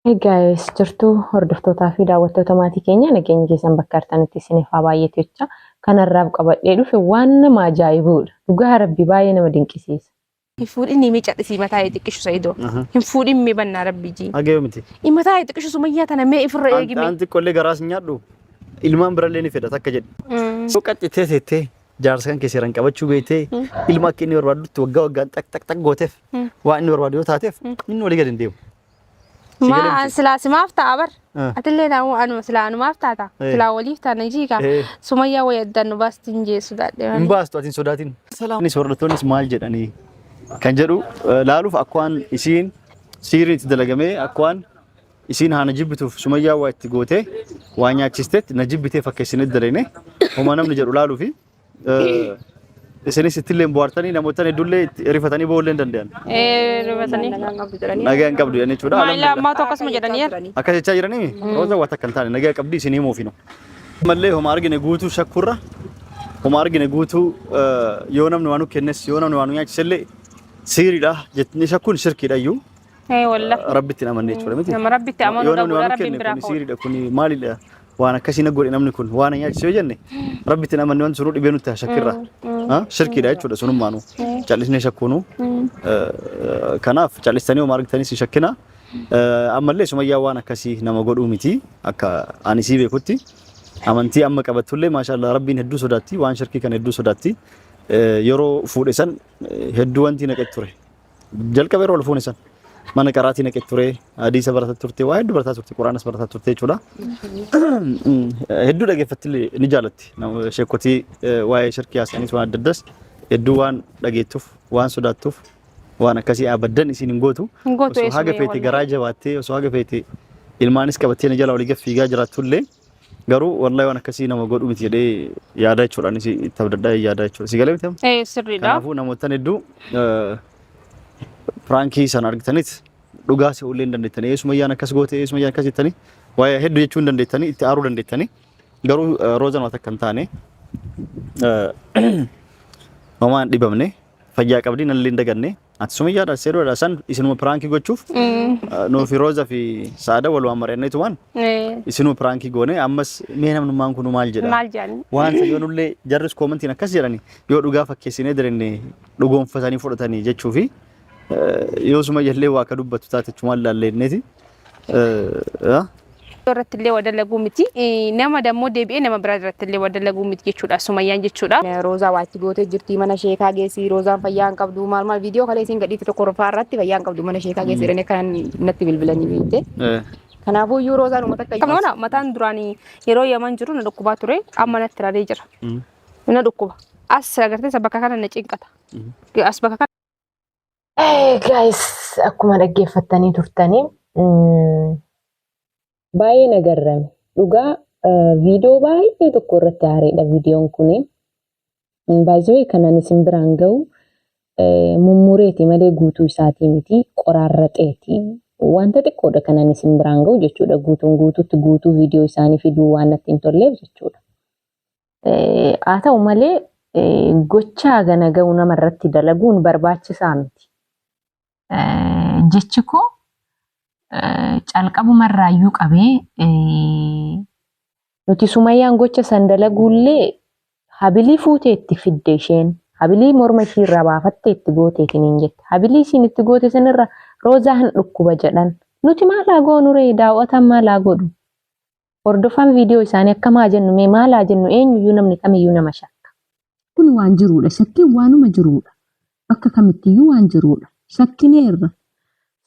Hey guys, jirtu hordoftootaa fi daawwattoota maatii keenya nageenyi keessan bakka artanitti isiniif haa baay'eetu jecha kanarraaf qabadhee dhufe waan nama ajaa'ibuudha. Dhugaa rabbi baay'ee nama dinqisiisa. Hin fuudhin mee cadhisii mataa ee xiqqishu Sa'idoo. Hin fuudhin mee bannaa rabbi jii. Hagayoo miti. Mataa ee xiqqishu sumayyaa tana mee ifirra eegi mee. Anti qollee garaas hin nyaadhu. Ilmaan birallee ni fedha takka jedhe. Yoo qaccitee teettee Jaarsa kan kee seeraan qabachuu beektee ilma akka inni barbaadutti waggaa waggaan xaq xaq xaq gooteef waan inni barbaadu yoo taateef inni walii gadi hin deemu. Si galee Maa miti. silaa simaaf ta'a bar. Ah. Atillee naamuu anuma silaa anumaaf taata. Eh. Silaa waliif taana jiika. Eh. Sumayyaa wayii addaan nu baasti hin jeessu daadhee. Hin baastu atiin sodaatiin. Salaamis hordoftoonnis maal jedhanii kan jedhu eh, laaluuf akkwaan isiin siiriin itti dalagamee akkwaan Isiin haa na jibbituuf sumayyaa waa itti gootee waa nyaachisteet na jibbitee fakkeessinee dalayne homaa namni jedhu laaluu fi isinis ittillee bu'aartanii namoottan hedduullee itti rifatanii ba'uu illee danda'an. Eh, dubatanii. Nagaa hin qabdu jedhanii jechuudha. Maayilaa Alhamdulillah. ammaa tokko asuma jedhanii yaa. Akka jechaa jiranii rooza waa takka hin taane nagaa qabdi isin himuuf hinu. Mallee homa argine guutuu shakkurra homa argine guutuu eh, yoo namni waa nu kennes yoo namni waa nu nyaachisellee siiriidha jettanii shakkuun shirkiidha iyyuu Ee wallahi. Rabbi ittiin amanne jechuudha miti. Nama Rabbitti amanu Yoo namni dhabuudha, waan Rabbiin kenne biraa kun ka'uudha. siiriidha kun maalidha waan akkasii na godhe namni kun waan na nyaachise yoo jenne Rabbi ittiin amanne waan sunuu dhibee nutti shakkirra. Ha? Shirkiidha jechuudha sunummaanu. Callisnee shakkuunu. Eh, Kanaaf callistanii homaa argitanii si shakkina. Eh, Ammallee sumayyaa waan akkasii nama godhuu miti akka ani sii beekutti. Amantii amma qabattullee maashaallah rabbiin hedduu sodaatti waan shirkii kana hedduu sodaatti. Eh, Yeroo fuudhe san eh, hedduu wanti naqetti ture. jalqaba yeroo ol fuune san mana qaraatii naqe ture hadiisa barataa turte waa hedduu barataa turte quraanas barataa turte jechuudha hedduu dhageeffatti ni jaalatti Nama- sheekotii eh, waa'ee shirkii haasa'anis waan adda addas hedduu waan dhageettuuf waan sodaattuuf waan akkasii abaddan isiin hin gootu Hin gootu osoo haga eessumayee feete wallahi. garaa jabaattee osoo haga feete ilmaanis qabattee na jala olii gad fiigaa jiraattu illee Garuu wallahi waan akkasii nama godhu miti jedhee yaadaa jechuudha. Anis itti abdadhaa yaadaa jechuudha. Si galee miti amma? Ee sirriidha. Kanaafuu namoottan hedduu eh, piraankii sana argitanis dhugaa se'uu illee hin dandeettanii. Eesuma iyyaan akkas goote, eesuma iyyaan akkas jettanii waa'ee hedduu jechuu hin dandeettanii, itti aaruu dandeettanii. Garuu eh, Roozan waan akka hin taane eh, homaa hin dhibamne. Fayyaa qabdii nallee hin daganne. Ati sumiyyaadha seeruudha san isinuma piraankii gochuuf nuufi rooza fi saada walumaan mari'anneetumaan isinuma piraankii goone ammas mee namnummaan kun maal jedha. Maal jedhani? Waan isa yoonullee jarris koomantiin akkas jedhani yoo dhugaa fakkeessinee direnne dhugoonfatanii fudhatanii jechuu fi yoo sumayyallee waa akka dubbatu taate chumaan laallee inneeti. irratti illee wadalaguu miti nama dammoo deebi'ee nama biraa irratti illee wadalaguu miti jechuudha sumayyaan jechuudha. Roozaa waa itti gootee jirti mana sheekaa geessi roozaan fayyaa hin qabdu maal maal viidiyoo kalee isin gadhiitti tokko rufaa irratti fayyaa hin qabdu mana sheekaa geessi jedhanii kan natti bilbilanii beekte. Kanaafuu iyyuu roozaan uummata akka Kan mana mataan duraanii yeroo yaman jiru na dhukkubaa ture amma natti raree jira. Na dhukkuba. As agartee bakka kana na cinqata. As bakka kana Gaayis akkuma dhaggeeffattanii turtanii baay'ee na garrame. Dhugaa viidiyoo baay'ee tokko irratti haareedha viidiyoon kun. Baay'ee kanan isin biraan gahu mummureeti malee guutuu isaatii miti qoraarraxeeti. Wanta xiqqoodha kanan isin biraan gahu jechuudha. Guutuun guutuutti guutuu viidiyoo isaanii fiduu waan natti hin tolleef jechuudha. Haa ta'u malee gochaa gana ga'u nama irratti dalaguun barbaachisaa miti. Jechi koo calqabuma irraayyuu qabee nuti sumayyaan gocha san dalaguullee habilii fuutee itti fidde isheen habilii morma ishii irraa baafattee itti gootee isiniin jette habilii isiin itti goote sanirra roozaa hin dhukkuba jedhan nuti maalaa goonuree daawwataan maalaa godhu Hordofaan viidiyoo isaanii akkam haa jennu mee maal haa jennu eenyuyyuu namni kamiyyuu nama shakka. Kun waan jiruudha. Shakkiin waanuma jiruudha. Bakka kamittiyyuu waan jiruudha. Shakkineerra.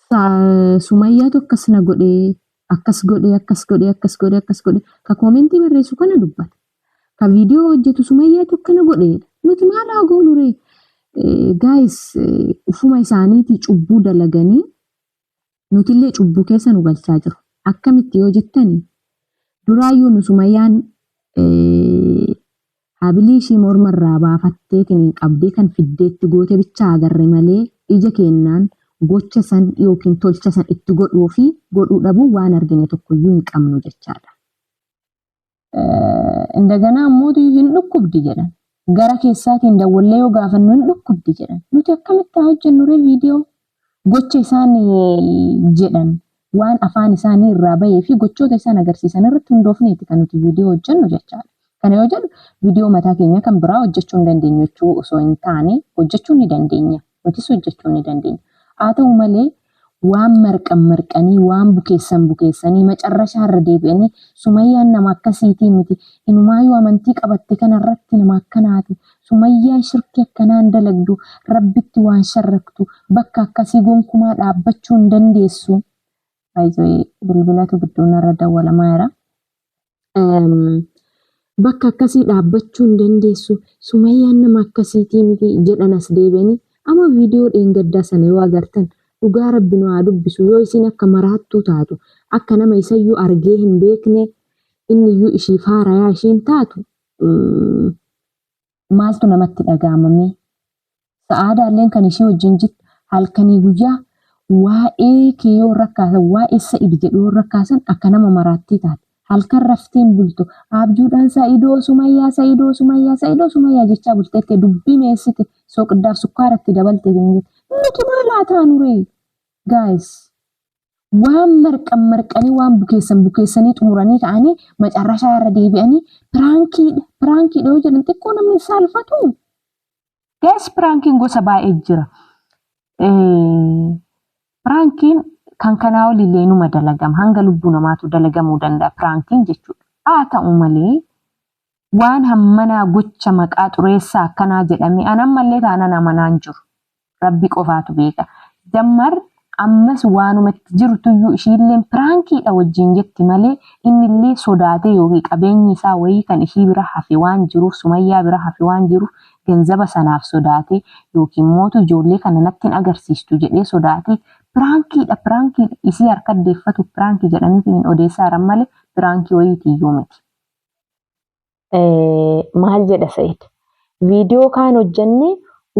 Sa- Sumayyaatu akkas na godhee akkas godhee akkas godhee akkas godhee akkas godhee ka koomentii barreessu kana dubbata. Ka viidiyoo hojjetu Sumayyaatu akkana godheedha. Nuti maal haa goonu ree? Gaayis ufuma isaaniitii cubbuu dalaganii nutillee cubbuu keessa nu galchaa jiru. Akkamitti yoo jettani duraayyuu nu sumayyaan eh, habilii ishii morma irraa baafatteetiin hin qabdee kan fiddeetti goote bichaa agarre malee ija keennaan gocha san yookiin tolcha san itti godhuu fi godhuu dhabuu waan argine tokkoyyuu hin qabnu jechaadha. Indaganaa ammoo hin dhukkubdi jedhan. Gara keessaatiin dawwallee yoo gaafannu hin dhukkubdi jedhan. Nuti akkamitti haa hojjennuree viidiyoo gocha isaan jedhan waan afaan isaanii irraa bahee fi gochoota isaan agarsiisan irratti hundoofneeti kan nuti viidiyoo hojjennu jechaadha. Kana yoo jedhu viidiyoo mataa keenya kan biraa hojjechuu hin dandeenyu jechuu osoo hin taane hojjechuu ni dandeenya. nutis hojjechuu ni dandeenya. Haa ta'u malee waan marqan marqanii waan bukeessan bukeessanii macarrashaa irra deebi'anii sumayyaan nama akkasiitii miti inumaayuu amantii qabatte kanarratti nama akkanaati sumayyaan shirki akkanaan dalagdu rabbitti waan sharraktu bakka akkasii gonkumaa dhaabbachuu hin dandeessu Baay'ee bilbilatu gidduu narra dawwalamaa jira. Bakka akkasii dhaabbachuu hin dandeessu. Sumayyaan nama akkasiitii miti jedhan as deebi'anii. Amma viidiyoo dheengaddaa sana yoo agartan dhugaa rabbi nu haa dubbisu yoo isin akka maraattuu taatu akka nama isayyuu argee hin beekne inni iyyuu ishii faarayaa isheen taatu maaltu namatti dhaga'ama mee? Sa'aadaalleen kan ishii wajjin jirtu halkanii guyyaa waa'ee kee yoo rakkaasan waa'ee sa'id jedhu yoo rakkaasan akka nama maraattii taate. Halkan rafteen bultu abjuudhaan sa'idoo sumayyaa sa'idoo sumayyaa sa'idoo sumayyaa jechaa bulteette dubbii meessite soqiddaaf sukkaaratti dabalte jennee. Nuti maal haa taanuree? Guys, waan marqan marqanii waan bukeessan bukeessanii xumuranii ka'anii macarrashaa irra deebi'anii piraankiidha piraankiidha yoo jedhan xiqqoo namni saalfatu. Gaas piraankiin gosa baay'ee jira. Piraankiin kan kanaa olillee numa dalagama hanga lubbuu namaatu dalagamuu danda'a piraankiin jechuudha. Haa ta'u malee Waan hammanaa gocha maqaa xureessaa akkanaa jedhame an ammallee taanan amanaa hin jiru. Rabbi qofaatu beeka. Dammar ammas waanuma itti jirtuyyuu ishiilleen piraankiidha wajjiin jetti malee innillee sodaatee yookiin qabeenyi isaa wayii kan ishii bira hafe waan jiruuf Sumayyaa bira hafe waan jiruuf ganzaba sanaaf sodaatee yookiin mootu ijoollee kana natti hin agarsiistu jedhee sodaatee piraankiidha piraankiidha isii harka deeffatuuf piraanki jedhaniitiin odeessaa jiran malee piraankii wayiitiyyuu miti. maal jedha Sa'id? Viidiyoo kaan hojjannee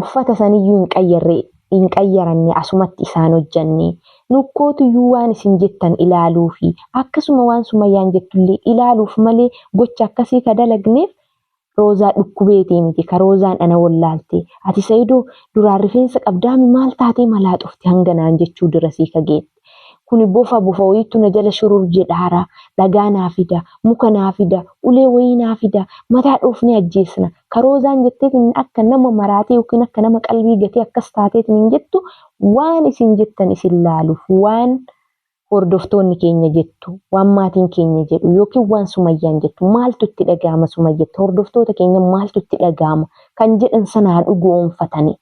uffata saniyyuu hin qayyarre hin qayyaranne asumatti isaan hojjannee nukkootuyyuu waan isin jettan ilaaluu fi akkasuma waan sumayyaan jettullee ilaaluuf malee gocha akkasii ka dalagneef roozaa dhukkubeetii miti ka roozaan ana wallaalte ati sayidoo duraan rifeensa qabdaami maal taatee malaaxofti hanganaan jechuu dirasii ka geette. Kuni bofa bofa wayiittu na jala shurur jedhaara. Dhagaa naa fida. Muka naa fida. Ulee wayii naa fida. Mataa dhoofnee ajjeesna. Ka Roozaan jetteetiin akka nama maraatee yookiin akka nama qalbii gatee akkas taateetiin jettu waan isin jettan isin laaluuf waan hordoftoonni keenya jettu, waan maatiin keenya jedhu yookiin waan Sumayyaan jettu maaltu itti dhaga'ama Sumayyatti hordoftoota keenya maaltu itti dhaga'ama kan jedhan sana haa dhugo'oomfatanii.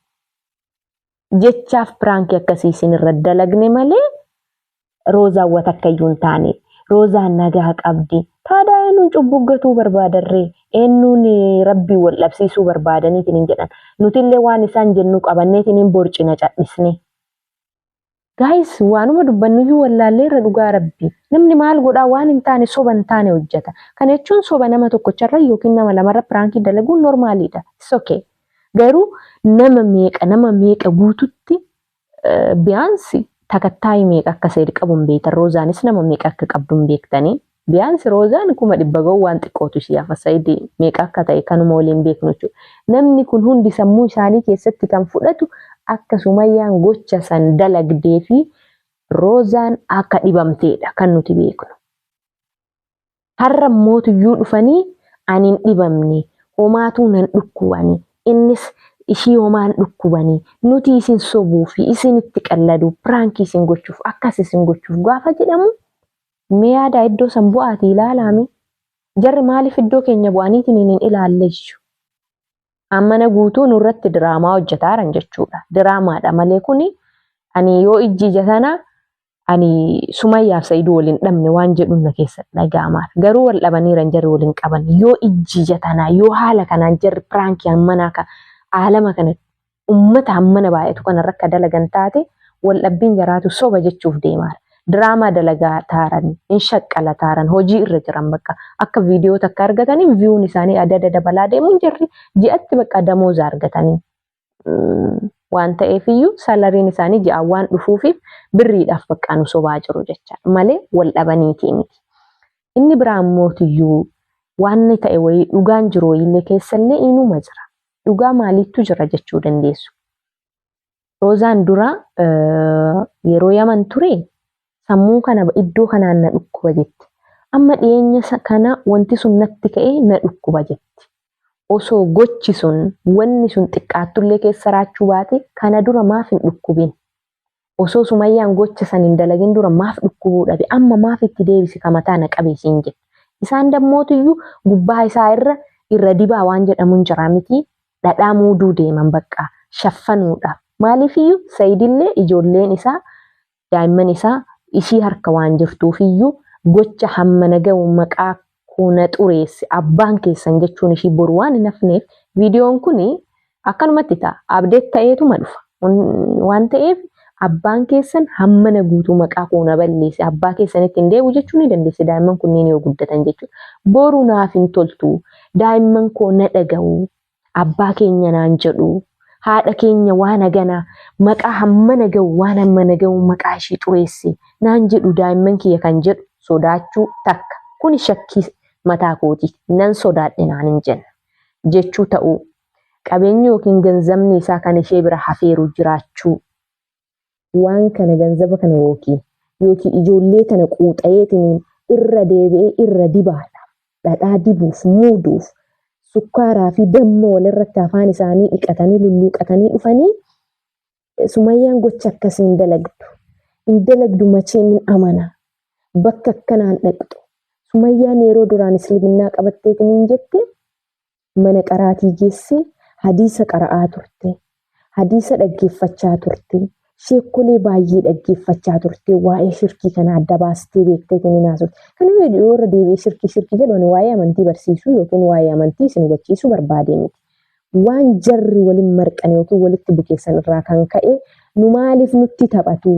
jechaaf piraankii akkasii isin irra dalagne malee roozaan wa takkayyuu hin taane roozaan nagaa qabdi taadaa eenyuun cubbuu gatuu barbaadarree eenyuun rabbii wal dhabsiisuu barbaadaniitiin hin jedhan nutillee waan isaan jennu qabanneetiin hin borcina cadhisne. Gaayis waanuma dubbannuyyuu wallaallee irra dhugaa rabbi namni maal godhaa waan hin taane soba hin taane hojjeta kana jechuun soba nama tokkocharra yookiin nama lamarra piraankii dalaguun normaaliidha it's okay. Garuu nama meeqa nama meeqa guututti biyaansi takattaayii meeqa akka seed qabu hin beektan roozaanis nama meeqa akka qabdu hin beektanii biyaansi roozaan kuma dhibba ga'u waan xiqqootu isii hafa sayid meeqa akka ta'e kanuma waliin beeknu jechuudha namni kun hundi sammuu isaanii keessatti kan fudhatu akka sumayyaan gocha san dalagdee fi roozaan akka dhibamteedha kan nuti beeknu. Har'a mootuyyuu dhufanii ani hin dhibamne homaatuu nan dhukkubani innis ishii homaa hin dhukkubani nuti isin sobuu fi isin itti qalladuu piraankii isin gochuuf akkas isin gochuuf gaafa jedhamu mee yaadaa iddoo san bu'aati ilaalaame jarri maaliif iddoo keenya bu'aniitiin hin ilaalleessu ammana guutuu nurratti diraamaa hojjetaaran jechuudha. Diraamaadha malee kuni ani yoo ijji ija sana ani sumayyaaf sa'iduu waliin dhabne waan jedhuun na keessa dhaga'amaar. Garuu wal dhabaniiran jarri waliin qaban yoo ijji ija tanaa yoo haala kanaan jarri piraankii manaa ka aalama kana ummata hammana baay'atu kana irra akka dalagan taate wal dhabbiin jaraatu soba jechuuf deemaara. Diraamaa dalagaa taaran, hin shaqqala taaran, hojii irra jiran bakka akka viidiyoo takka argatanii viyuun isaanii adda adda dabalaa deemuun jirri ji'atti bakka damooza argatanii. waan ta'eef iyyuu salariin isaanii ji'aan waan dhufuufiif birriidhaaf bakka nu sobaa jiru jechaadha malee wal dhabaniitii miti. Inni biraa immoo iyyuu waan ta'e wayii dhugaan jiru wayiillee keessallee inuma jira. dhugaa maaliittu jira jechuu dandeessu. Roozaan dura yeroo yaman ture sammuu kana iddoo kanaan na dhukkuba jetti. Amma dhiyeenya kana wanti sun natti ka'ee na dhukkuba jetti. Osoo gochi sun wanni sun xiqqaattullee keessa raachuu baate kana dura maaf hin dhukkubin osoo sumayyaan gocha san hin dalagin dura maaf dhukkubuu dhabe amma maaf itti deebise ka mataa na qabe isiin jedhe isaan dammootiyyuu gubbaa isaa irra irra dibaa waan jedhamuun jiraa miti dhadhaa muuduu deeman baqqaa shaffanuudhaaf maaliifiyyuu sayidillee ijoolleen isaa daa'imman isaa ishii harka waan jirtuufiyyuu gocha hamma naga'u maqaa koo na xureesse abbaan keessan jechuun ishii boru waan hin hafneef viidiyoon kun akkanumatti ta'a abdeet ta'eetuma dhufa waan ta'eef abbaan keessan hammana guutuu maqaa koo na balleesse abbaa keessanitti hin deebi'u jechuu ni dandeessi daa'imman kunniin yoo guddatan jechuudha. Boru naaf hin toltu daa'imman koo na dhaga'u abbaa keenya naan jedhu haadha keenya waan hagana maqaa hammana ga'u waan hammana ga'u maqaa ishii xureesse naan jedhu daa'imman kiyya kan jedhu sodaachuu takka kuni shakkii mataa kooti nan sodaadhe naan hin jenna jechuu ta'uu qabeenyi yookiin ganzamni isaa kan ishee bira hafeeru jiraachuu waan kana ganzaba kana yookiin yookiin ijoollee kana quuxayeetiniin irra deebi'ee irra dibaadha dhadhaa dibuuf muuduuf sukkaaraa fi damma walirratti afaan isaanii dhiqatanii lulluuqatanii dhufanii sumayyaan gocha akkasii hin dalagdu hin dalagdu machee min amana bakka akkanaan dhaqxu sumayyaan yeroo duraan isliminaa qabatteetiniin jette Mana qaraatii geessee hadiisa qara'aa turte. Hadiisa dhaggeeffachaa turte. Sheekkolee baay'ee dhaggeeffachaa turte. Waa'ee shirkii kana adda baastee beektee isin hin haasofte. Kana yoo irra deebi'ee shirkii shirkii jedhu ani waa'ee amantii barsiisuu yookiin waa'ee amantii isin hubachiisuu barbaadee miti. Waan jarri waliin marqan yookiin walitti bukeessan irraa kan ka'e nu maaliif nutti taphatu?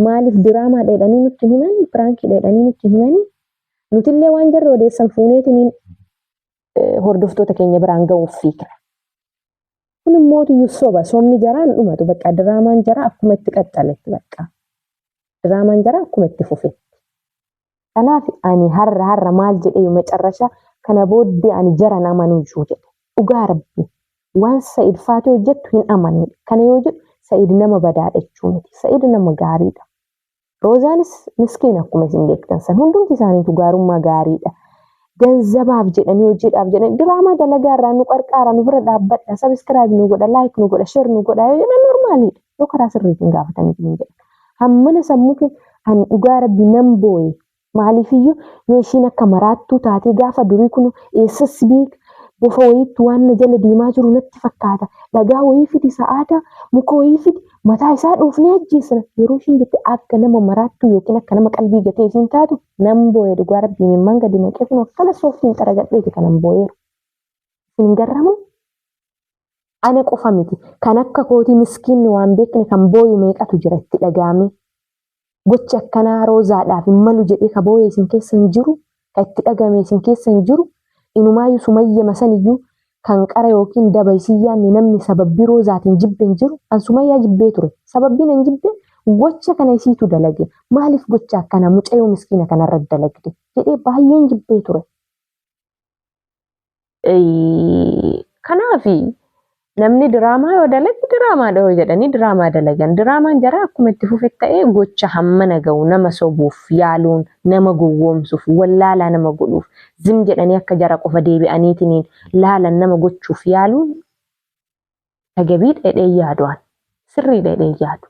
Maaliif diraamaa dheedhanii nutti himanii? Piraankii dheedhanii nutti himanii? Nutillee waan jarri odeessan fuuneetiniin hordoftoota keenya biraan ga'uuf fiigna. Kun immoo tuyyu soba sobni jaraa hin dhumatu bakka diraamaan jaraa akkuma itti qaxxaletti bakka diraamaan jaraa akkuma itti fufetti. Kanaaf ani har'a har'a maal jedhee macarrasha kana booddee ani jaran amanuu jiru jedhe dhugaa rabbi waan sa'id faatee hojjettu hin amanu kana yoo jedhu sa'id nama badaadha jechuu miti sa'id nama gaariidha Roozaanis miskiin akkuma isin beektan san hundumti isaaniitu gaarummaa gaariidha. Ganzabaaf jedhanii hojiidhaaf jedhanii diraamaa dalagaa irraa nu qarqaara nu bira dhaabbadha sabiskiraayib nu godha laayik nu godha sheer nu godha yoo jedhan normaaliidha yoo karaa sirriitiin gaafataniif hin jedhan. Hammana sammuu kee an dhugaa rabbi nan booye Maaliifiyyuu yoo isiin akka maraattuu taatee gaafa durii kuno eessas beeka bofa wayiittu waan na jala deemaa jiru natti fakkaata dhagaa wayii fidi sa'aadaa muka wayii fidi mataa isaa dhoofnee ajjeesina yeroo ishiin jette akka nama maraattuu yookiin akka nama qalbii gatee isiin taatu nan booye dhugaa rabbii imimmaan gadi naqee kuno akkana sooftiin xaragadheeti kanan booyeeru isin hin garramuu Ana qofa miti. Kan akka kootii miskiinni waan beekne kan booyu meeqatu jira itti dhaga'amee. Gochi akkanaa Roozaadhaaf hin malu jedhee ka booye isin keessa hin jiru, ka itti dhaga'ame isin keessa hin jiru. Inumaayyuu Sumayyama saniyyuu kan qara yookiin daba isin yaanne namni sababbii Roozaatiin jibbe hin jiru. An Sumayyaa jibbee ture. Sababbiin an jibbe gocha kana isiitu dalage. Maaliif gocha akkanaa mucayoo miskiina kanarra dalagde? jedhee baay'een jibbee ture. Kanaaf namni diraamaa yoo dalagu diraamaa dhahoo jedhanii diraamaa dalagan. Diraamaan jaraa akkuma itti fufe ta'ee gocha hammana ga'u nama sobuuf yaaluun nama gowwoomsuuf wallaalaa nama godhuuf zim jedhanii akka jara qofa deebi'aniitiin laalan nama gochuuf yaaluun tagabii dheedhee yaadu'an sirrii dheedhee yaadu.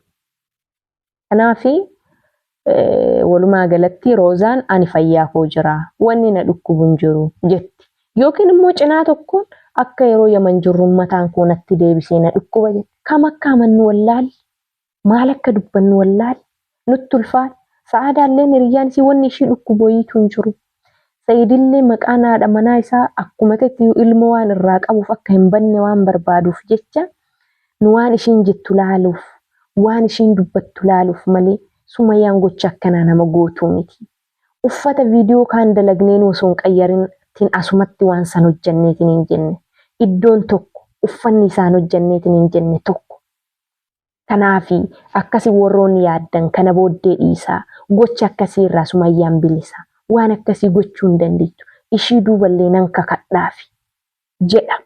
Kanaafi walumaa galatti Roozaan ani fayyaa koo jira wanni na dhukkubu hin jiru jetti. Yookiin immoo cinaa tokkoon akka yeroo Yaman jirru mataan koo natti deebisee na dhukkuba jetti. Kam akka amannu wallaalle, maal akka dubbannu wallaalle, nutti ulfaata. Sa'aadaalleen hiriyyaan isii wanni ishii dhukkubu wayiitu hin jiru. Sa'idillee maqaan haadha manaa isaa akkuma tettiyuu ilmoo waan irraa qabuuf akka hin banne waan barbaaduuf jecha nu waan ishiin jettu laaluuf waan ishiin dubbattu laaluuf malee sumayaan gocha akkanaa nama gootuu miti. Uffata viidiyoo kaan dalagneenuu osoo hin qayyarin tin asumatti waan san hojjanneetin hin jenne. Iddoon tokko uffanni isaan hojjanneetin hin jenne tokko. Tanaafi akka isin worroonni yaaddan kana booddee dhiisaa. Gocha akkasii irraa Sumayyaan bilisa. Waan akkasii gochuu hin dandeettu. Ishii duuba illee nan kakadhaafi. Jedha.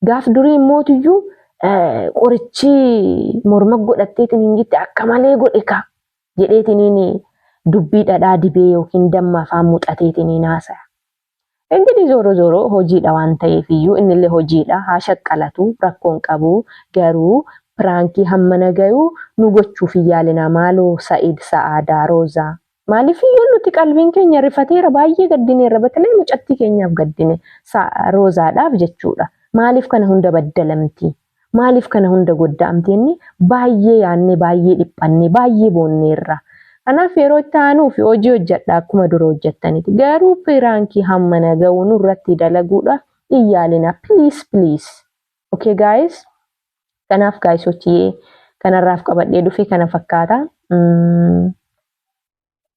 Gaaf durii immootuyyuu qorichi morma godhatteetiin hin gitte akka malee godhe kaa jedheetiniin dubbii dhadhaa dibee yookiin damma afaan muxateetiniin haasaya. Ingirii zooroo zooroo hojiidha waan ta'eef iyyuu innillee hojiidha haa shaqqalatu rakkoon qabu garuu piraankii hammana gayuu nu gochuuf hin yaalinaa maaloo Sa'id Sa'aadaa Roozaa. Maaliif iyyuu nuti qalbiin keenya rifateera baay'ee gaddineerra batalee mucattii keenyaaf gaddine Roozaadhaaf jechuudha maaliif kana hunda baddalamtii. Maaliif kana hunda godda'amti jennee baay'ee yaannee, baay'ee dhiphannee, baay'ee boonneerra. Kanaaf yeroo itti aanuuf hojii hojjedha akkuma dura hojjettanitti. Garuu piraankii hammana ga'u nurratti dalaguudhaaf hin yaalinaa. Please please. Okay guys? Kanaaf gaayisochiyee kanarraaf qabadhee dhufe kana fakkaata.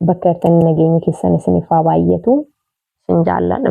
Bakka jirtanii nageenyi keessan isiniif haa baay'atu. Isin jaalladha.